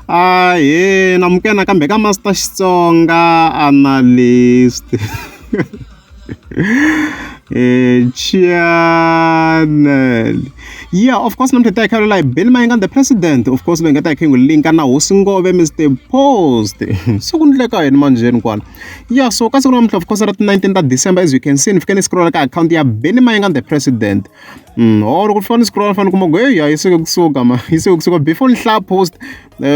Ahee namukela nakambe ka Master Xitsonga Analyst Chaanel ya of course namuntlha hi ta hi kha hi hi Benny Mayengani the president of course va nga ta hi kha hi n'wi linka na hosi Ngove Mister Post se ku endleka yini manjheni kwala ya so ka siku namuntlha of course ra ti-nineteen ta December as you can see ni fike ni scroll-a ka akhawunti ya Benny Mayengani the president. or loko ni fika ni scroll fane ni kuma ku heyi hayi se ku kusuka ma yi se kusuka before ni hlaya post um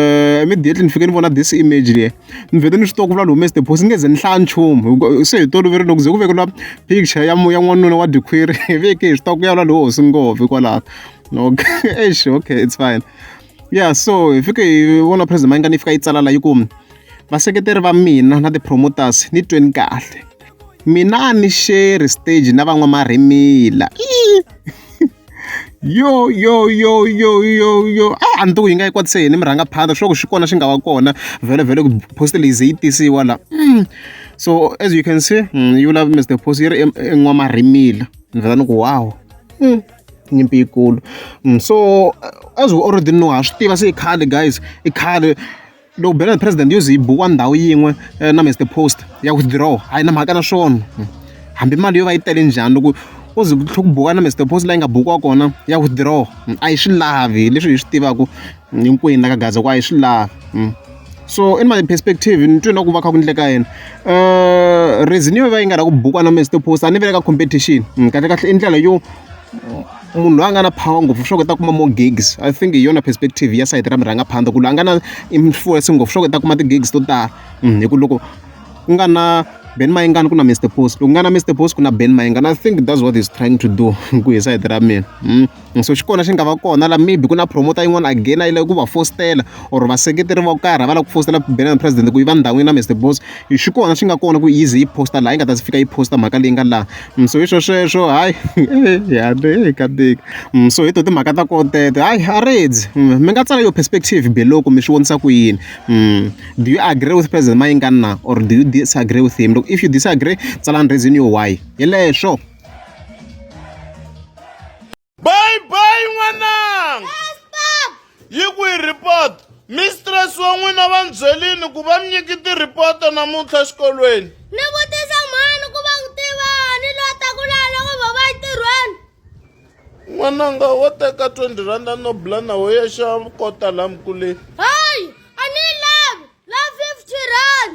immediately ni fike ni vona this image leyi ni vhete ni swi tiva ku vula ni humese the post ni nge ze ni hlaya nchumu se hi toloveri loko ze ku vekeliwa picture ya ya n'wanuna wa dikhwiri hi veke hi swi tiva ku ya vula loyi hosi ngopfu hikwalaho okay eish okay it's fine ya so hi fike hi vona president mayingani yi fika yi tsala la yi ku vaseketeri va mina na ti-promoters ni tweni kahle mina a ni sheri stage na van'wamarimila yo yo yo yo yo yo a ni to ku yi nga yi kwatise yini mi rhanga phanda swa ku xi kona xi nga va kona vhele vhele ku post leyi ze yi tisiwa la mm. so as you can see mm, you love mr post yi ri en'wamarimila ni vhela ni ku wow mm. nyimpi yikulu so as we already know ha swi tiva se i khale guys i khale loko bela president yo ze yi bukiwa ndhawu yin'we eh, na mr post ya withdraw a yi na mhaka na swona hambi mali yo va yi tele njhani loko u ze ku tlhe ku buka na mr post leyi nga bukiwa kona ya withdraw a yi swi lavi leswi hi swi tivaka hinkwenu la ka Gaza ku a hi swi lavi so in my perspective ni twe na ku va kha ku endleka yini reason yo va yi nga ri ku bukwana kumbe stop post a ni vile ka competition kahle kahle i ndlela yo munhu loyi a nga na power ngopfu swa ku u ta kuma more gigs I think hi yona perspective ya sayiti ra murhangaphandza ku loyi a nga na influence ngopfu swa ku u ta kuma ti-gigs to tala hi ku loko ku nga na Ben Mayengani ku na Mister Post loko ku nga na Mister Post ku na Ben Mayengani I think that's what he's trying to do ku hi sayiti ra mina. and so xi kona xi nga va kona la maybe ku na promoter yin'wana again a yi lava ku va fositela or vaseketeri vo karhi a va lava ku fositela banana president ku yi va ndhawini na Mister Boss xi kona xi nga kona ku easy yi posta laha yi nga ta fika yi posta mhaka leyi nga laha mm, so hi swo sweswo hayi yale ka tika mm, so hi to timhaka ta kotete hayi a redzi mm, mi nga tsala yo perspective below kumbe swi vonisa ku yini do you agree with president mayingani na or do you disagree with him loko if you disagree tsalani reason yo why hi leswo bye bye n'wananga yi kwihi report mistress wa n'wina va ni byelini ku va mi nyiki ti-reporto namuntlha xikolweni ni vutisa mhani ku va ku tivani loyi ta ku laha loko va va entirhweni n'wananga wo teka 20 randa no bula na wo yexa kota laha mikuleni hayi a ni yi lavi la 50 rand